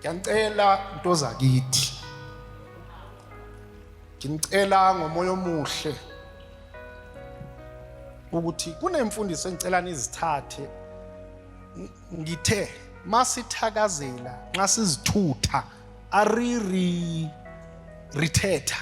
ngiyacela into zakithi ngicela ngomoya omuhle ukuthi kunemfundiso engicela nizithathe ngithe masithakazela nxa sizithutha ariri rithetha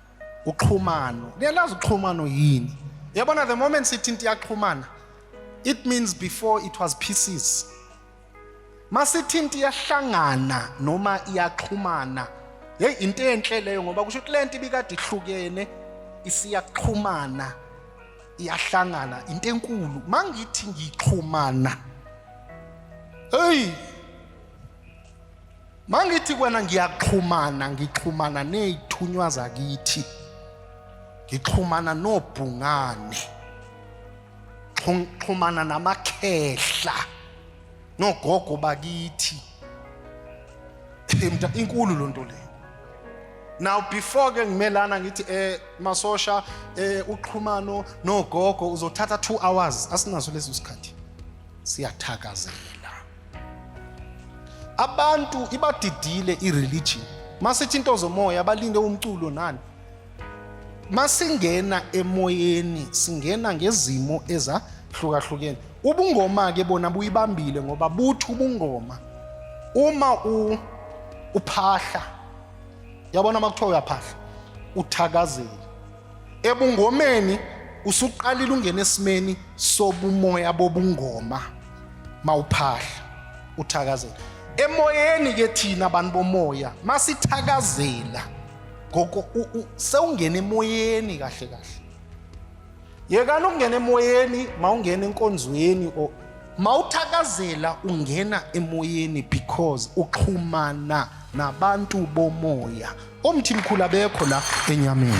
uxhumano niyalazi uxhumano yini yabona the moment sithi into iyaxhumana it means before it was pieces masithi into iyahlangana noma iyaxhumana hey into enhle leyo ngoba kusho ukuthi lento ibikade ihlukene isiyaxhumana iyahlangana into enkulu mangithi ngixhumana hey Mangithi kwena ngiyaxhumana ngixhumana nezithunywa zakithi. Ngixhumana nobhungane. Xhumana namakhehla. Nogogo bakithi. Imda inkulu lonto le. Now before ke ngimelana ngithi eh masosha eh uxhumano nogogo uzothatha 2 hours asinaso lesi sikhathi. Siyathakazela. abantu ibadidile ireligion masithi into zomoya balinde umculo nani masingena emoyeni singena ngezimo ezahlukahlukene ubungoma ke bona buyibambile ngoba buthi ubungoma uma u uphahla yabona makuthiwa uyaphahla uthakazela Ebungomeni usuqalile ungena esimeni sobumoya bobungoma mawuphahla uthakazela. Emoyeni ke thina abantu bomoya masithakazela ngoko sewungena emoyeni kahle kahle. Yekani ukungena emoyeni mawungena enkonzweni or mawuthakazela ungena emoyeni because uxhumana nabantu bomoya Omthimkhulu abekho la enyameni.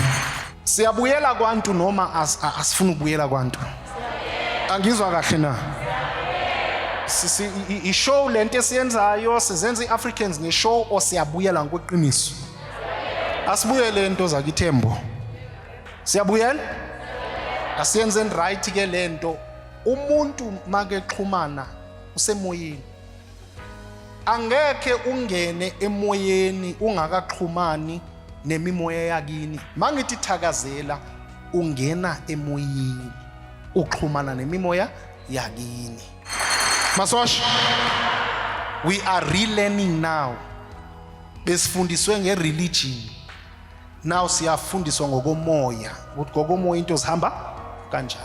Siyabuyela kwantu noma as- a- asifuni ukubuyela kwantu. Angizwa kahle na. Si- si- i- i- I-show lento esiyenzayo sizenza i-Africans nge-show or siyabuyela ngokweqiniso. Asibuyele into zakithembo. Siyabuyela? Asiyenzeni right ke lento. Umuntu makexhumana usemoyeni. angekhe ungene emoyeni ungakaxhumani nemimoya yakini mangithi thakazela ungena emoyeni uxhumana nemimoya yakini masosha we are relearning now besifundiswe ngereligion now siyafundiswa ngokomoya ukuthi ngokomoya into zihamba kanjani